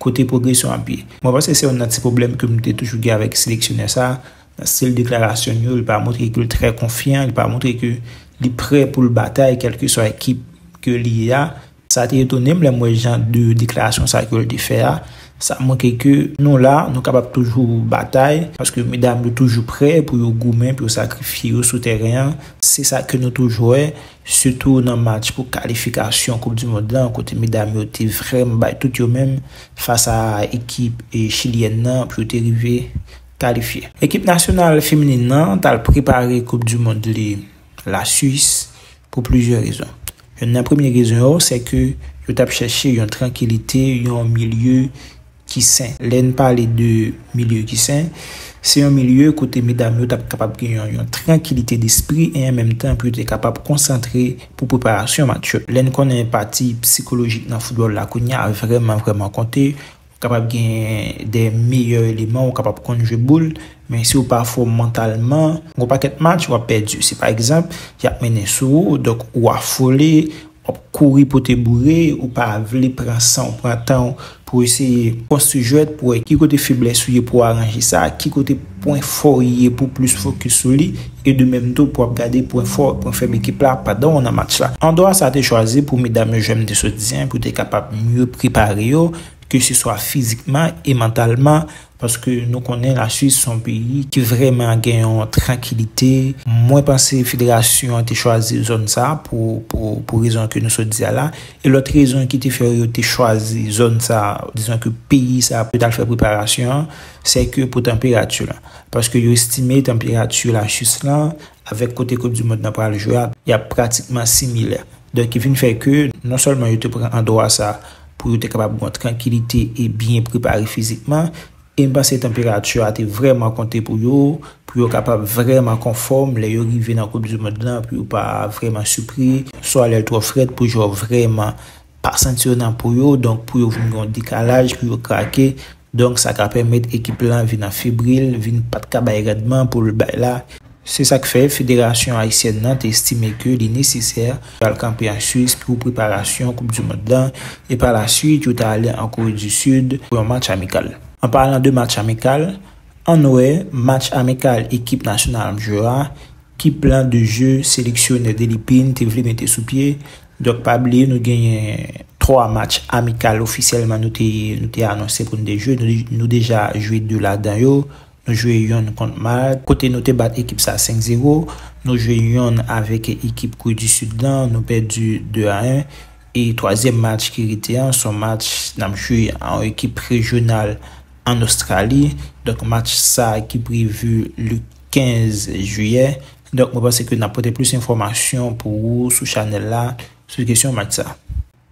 Kote pwogresyon ap ye? Mwen panse se youn nan ti pwoblèm ke m te toujou gen avèk seleksyonè sa, nan stil deklarasyon l yo, li pa montre ke l trè konfyan, li pa montre ke li prè pou l batay kèlkeswa ekip ke li ye a. Sa te etone m lè m wè jan de deklarasyon sa ke l te fè a. Sa montre ke nou la, nou kapab toujou batay, paske medam yo toujou prè pou yo goumen, pou yo sakrifye yo sou tèren an. Se sa ke nou toujou wè. sitou nan match pou kalifikasyon koup du mond lan kote medam yo te vrèmn bay tout yo menm fas a ekip chilyèn nan pou yo te rive kalifye. Ekip nasyonal feminin nan t al prepare koup du mond li la Suis pou plizyè rezon. Youn nan premye rezon yo sè ke yo t ap chèche yon trankilite, yon milye ki sen. Lè n pale de milye ki sen, se yon milye kote medam yo t ap kapab gen yon trankilite despri e an menm tan pou yo te kapab konsantre pou preparasyon match yo. Lè n konnen pati psikolojik nan foutbòl la kounye a vrèman vrèman konte, ou kapab gen de meyè eleman, ou kapab konn jwe boul, men si ou pa fò mantalman, gen yon pakèt match w ap pèdi. Si pa egzanp, y ap mennen sou ou, donk ou afole, Wap kouri pote boure ou pa vle pran sanw pran tanw pou eseye konstwi jwèt pou wè ki kote feblès ou ye pou aranje sa, ki kote pwen fòw ye pou plis fokis sou li e de menm tou pou wap gade pwen fò e pwen fèb ekip la pandan ou nan match la. Andwa sa te chwazi pou medam yo jwèm te sot di an pou te kapab mye prepare yo keseswa fizikman e mantalman, Paske nou konnen la Suisse son peyi ki vrèman gen yon trankilite. Mwen panse federasyon an te chwazi zòn sa pou pou rezon ke nou sot di a la. E lòt rezon ki te fè yo te chwazi zòn sa, dizon ke peyi sa pou yo t'al fè preparasyon an, sè ke pou tanperati la. Paske yo estime tanperati la Suisse lan avèk kote koup di mond nan pral jwe a, y'ap pratikman similè. Donk ki vin fè ke non sèlman yo te pran andwa sa pou yo te kapab gen yon trankilite e byen prepare fizikman, e m panse tanperati a te vrèman konte pou yo, pou yo kapab vrèman konfòm lè yo rive nan koup di mond lan, pou yo pa vrèman sipri, swa lè l twò frèt pou jwè yo vrèman pa santi yo nan po yo, donk pou yo vin gen yon dekalaj, pou yo krake. Donk sa ka pèmèt ekip lan vin an febril, vin pat ka bay randman pou l bay la. Se sa k fè federasyon ayisyèn nan te estime ke li nesesè pou al kanpe an Swis pou preparasyon koup du mond lan e pa la swit yo ta ale an Kore du Sud pou yon match amikal. An palan de match amikal, ann wè match amikal ekip nasyonal mjoo a, ki plan de jeu seleksyonè Delly Pine te vle mete sou pye, Donk pa bliye nou genyen 3 match amikal ofisyèlman nou te nou te anonse pou nou te jwe, nou deja jwe 2 ladan yo, nou jwe yonn kont Malte kote nou te bat ekip sa 5 zero, nou jwe yonn avèk ekip Kore di Sid lan nou pèdi 2 a 1 e twazyèm match ki rete an son match n ap jwe a yon ekip rejyonal ann Ostrali donk match sa ki prevu le 15 jiyè, donk mwen panse ke n ap pote plis enfòmasyon pou ou sou chanèl la sou kesyon match sa.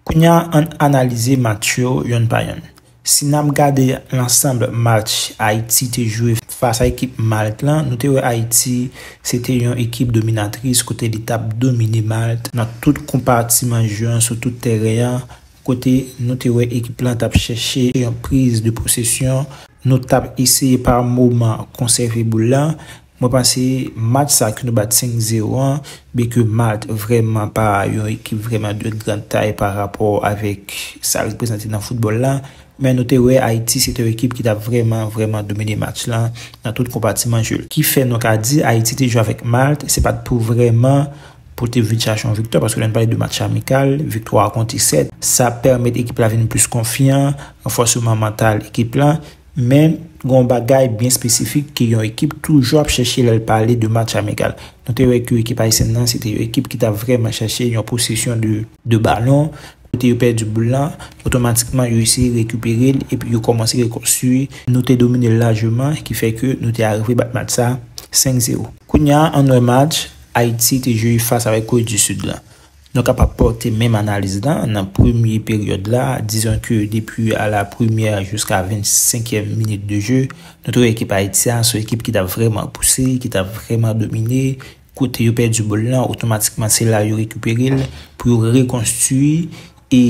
Kounye a an n analize match yo yonn pa yonn. Si n ap gade lansanb match Ayiti te jwe fas a ekip Malt lan, nou te wè Ayiti se te yon ekip dominatris kote li t ap domine Malt nan tout konpatiman jeu an sou tout tèren an, kote nou te wè ekip lan t ap chèche yon priz de posesyon, nou t ap eseye pa moman konsève boul lan, mwen panse match sa ke nou bat 5 zero an, byen ke Malt vrèman pa yon ekip vrèman de grand tay pa rapò avèk sa l reprezante nan foutbòl la, men nou te wè Ayiti se te yon ekip ki t ap vrèman, vrèman domine match lan nan tout konpatiman je l. Ki fè nou ka di Ayiti te jwe avèk Malt, se pa t pou vrèman. Pote vit chache yon viktwa paske lè n pale de match amikal, viktwa a konte 7. Sa pèmèt ekip la vin plis konfyan, ranfòseman mantal ekip la. Men, gen yon bagay byen espesifik ke yon ekip toujou ap chèche lè l pale de match amikal. Nou te wè ke ekip ayisyèn nan se te yon ekip ki t ap vrèman chèche yon posesyon de. De balon, kote yo pèdi boul la, otomatikman yo eseye rekipere l epi yo kòmanse rekonstwi. Nou te domine l lajeman ki fè ke nou te arive bat match sa 5 zero. Kounye a, an n wè match. Ayiti te jwe fas avèk Kore di Sid la. Nou kapab pòte menm analiz la nan premye peryòd la, dizon ke depi a la premyè jiska venn senkyèm minit de je, nou te wè ekip Ayiti a son ekip ki t ap vrèman pouse, ki t ap vrèman domine, kote yo pèdi bòl lan, otomatikman se la yo rekipere l pou yo rekonstui e.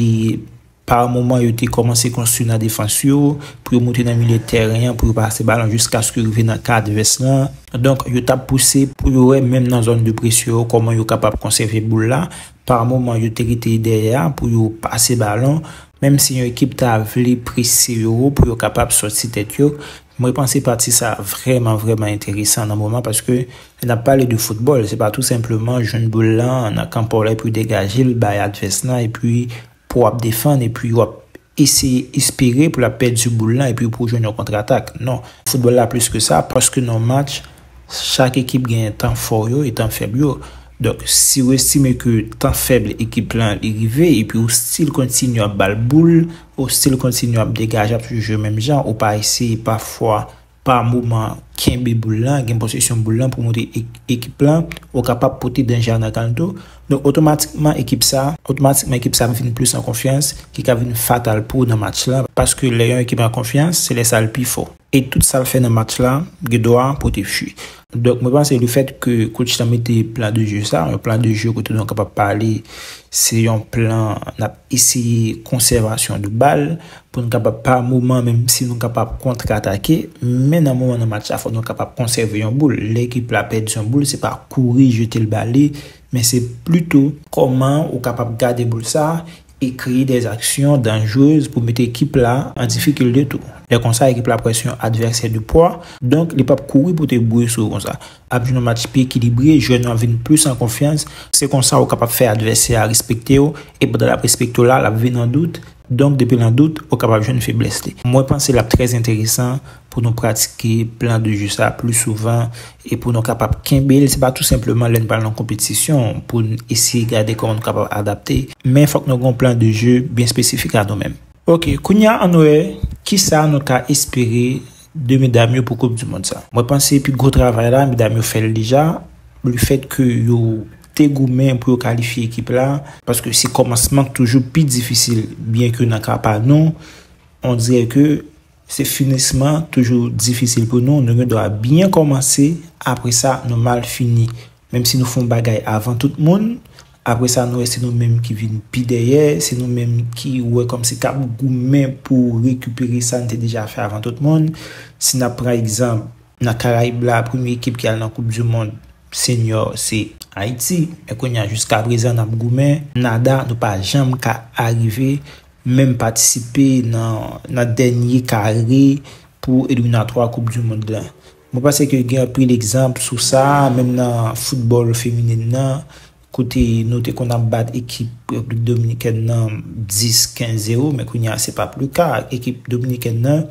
Pa moman yo te kòmanse konstwi nan defans yo, pou yo moute nan milye tèren an pou yo pase balon jiskaske yo rive nan ka advès lan. Donk yo tap pouse pou yo wè menm nan zòn de presyon yo kòman yo kapab konsève boul la. Pa moman yo te rete dèyè a pou yo pase balon. Menm si yon ekip ta vle prese yo wo pou yo kapab sòti tèt yo. Mwen panse pati sa vrèman vrèman enteresan nan moman paske lè nap pale de foutbòl se pa tou senpleman jwenn boul lan nan kan paw la epi degaje l bay advès lan epi Pou wap defann epi wap eseye espere pou lap pèdi boul lan epi pou w jwenn yon kontratak. Non. Foutbòl la plis ke sa, paske nan yon match, chak ekip genyen tan fò yo e tan fèb yo. Donk, si w estime ke tan fèb ekip lan li rive epi ou stil kontinye ap ba l boul, ou stil kontinye ap degaje ap jwe menm jan, ou pa eseye pafwa, Pa moman, kenbe boul lan, gen posesyon boul lan pou montre ekip lan ou kapab pote danje a nan kanl tou. Donk otomatikman ekip sa, otomatikman ekip sa ap vin plis an konfyans ki ka vin fatal pou ou nan match lan paske lè yon ekip an konfyans se lè sa l pi fò e tout sa l fè nan match la gen dwa pote fwi. Donk mwen panse le fèt ke coach lan mete plan de jeu sa, yon plan de jeu kote nou kapab pale se yon plan nap eseye konsèvasyon de bal, Pou n kapab pa moman menm si nou kapab kontratake, men nan moman nan match la fò nou kapab konsève yon boul. Lè ekip la pèdi yon boul se pa kouri jete l ba li, men se plito. Kòman ou kapab gade boul sa e kreye dè aksyon danjrez pou mete ekip la an difikilte tou. Lè konsa ekip la pwès yon advèsè de pwa, donk li pap kouri pou te bouye sou ou konsa. Ap jwenn yon match pi ekilibre, jwè nou ap vin plis an konfyans. Se konsa ou kapab fè advèsè a respekte w e pandan l ap respekte w la, l ap vin an dout Donk depi l an dout, ou kapab jwenn feblès li. Mwen panse l ap trè enteresan pou nou pratike plan de je sa a pli souvan e pou nou kapab kenbe l. Se pa tou senpleman lè n pral nan konpetisyon pou n eseye gade kòman nou kapab adapte, men fòk nou gen yon plan de je byen espesifik a nou menm. Ok, kounye a ann wè ki sa nou ka espere de medam yo pou koup di mond sa. Mwen panse pi gwo travay la, medam yo fè l deja, le fèt ke yo te goumen pou yo kalifye ekip la, paske se kòmansman k toujou pi difisil, byen ke nan ka pa nou, on dirè ke se finisman toujou difisil pou nou, nou gen dwa byen kòmanse, apre sa nou mal fini, menm si nou fon bagay avan tout moun, apre sa nou wè se nou menm ki vin pi dèyè, se nou menm ki wè kòmsi k ap goumen pou rekipere sa n te deja fè avan tout moun, si n ap pran egzanp, nan Karayib la, premye ekip ki al nan koupdimond. Señor se Haiti men kounya jiska prezan nap goumen nada nou pa janm ka arive menm patisipe nan nan dènye kare pou eliminatwa koup du mond lan mwen panse ke gen anpil egzanp sou sa menm nan football feminin nan kote nou te konn ap bat ekip replik dominikèn nan 10 15 zero men kounya se pap le ka ekip dominikèn nan.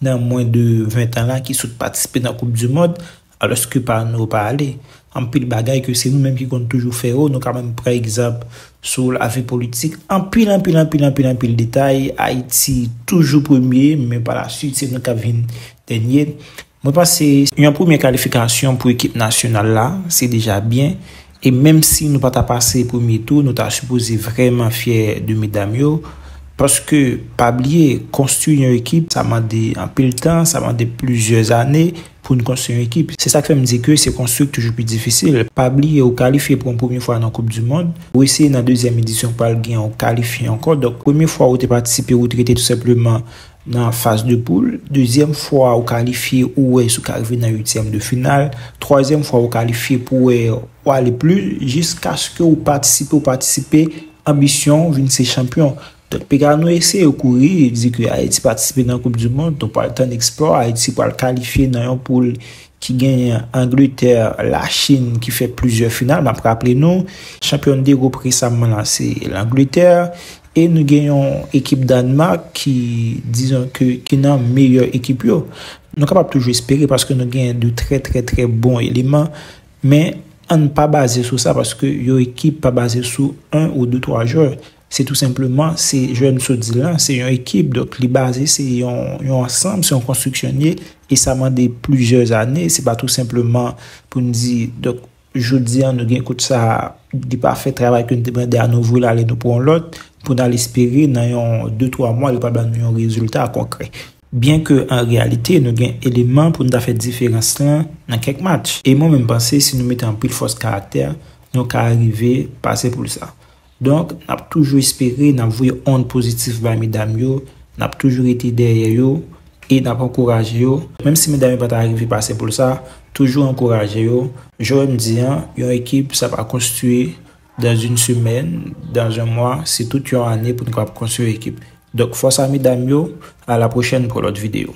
nan mwen de 20 tan la ki sot patisipe nan koup du mond alòske pa nou yo pa ale. Anpil bagay ke se nou menm ki konn toujou fè yo, nou ka menm pran egzanp sou lavi politik, anpil anpil anpil anpil anpil detay Ayiti toujou premye men pa la swit se nou kap vin dènye. Mwen panse yon premye kalifikasyon pou ekip nasyonal la se deja byen E menm si nou pata pase premye tou nou ta sipoze vrèman fyè de medam yo paske pa bliye konstwi yon ekip sa mande anpil tan sa mande plizyè zane poun konstwi yon ekip se sak fèm di ke se konstwi k toujou pi difisil pa bliye ou kalifye pou yon premye fwa nan koup du mond ou eseye nan dezyèm edisyon pral gen yon kalifye ankò donk premye fwa ou te patisipe ou t rete tou senpleman Nan faz de poul, dezyèm fwa ou kalifye ou wè si w ka rive nan uityèm de final, twazyèm fwa ou kalifye pou wè ou ale pli jiskaske ou patisipe ou patisipe anbisyon ou vin se chanpyon. Donk piga nou eseye kouri di ke Ayiti patisipe nan koup di mond, nou pral tann eksplò, Ayiti pral kalifye nan yon poul ki genyen Angletè, Lachin ki fè plizyè final, m ap raple nou, chanpyòn degoup resamman la se Langletè E nou gen yon ekip Danemark ki dizon ke ki nan meyè ekip yo. Nou kapab toujou espere paske nou gen de trè trè trè bon eleman. Men ann pa baze sou sa paske yon ekip pa baze sou 1 ou 2 3 jwè. Se tou senpleman se jwè m sot di lan se yon ekip donk li baze se yon ansanm se yon konstriksyon li ye e sa mande plizyè zane se pa tou senpleman pou n di donk Jodi an nou gen kout sa a, li pa fè travay ke nou te mande a, nou voye l ale nou pran yon lòt pou n al espere nan yon de twa mwa li pral ba nou yon rezilta konkrè. Byenke an reyalite nou gen eleman pou nou ta fè diferans lan nan kèk match. E mwen menm panse si nou mete anpil fòs karaktè, nou ka rive pase poul sa. Donk, n ap toujou espere, n ap voye ond pozitif bay medam yo, n ap toujou rete dèyè yo e n ap ankouraje yo. Menm si medam yo pa ta rive pase poul sa, toujou ankouraje yo. Jan m di an, yon ekip sa pa konstwi dans une semaine, dans un mois, se tout yon ane pou n kapab konstwi yon ekip. Donk, fòs a medam yo, a la pwochèn pou yon lòt videyo.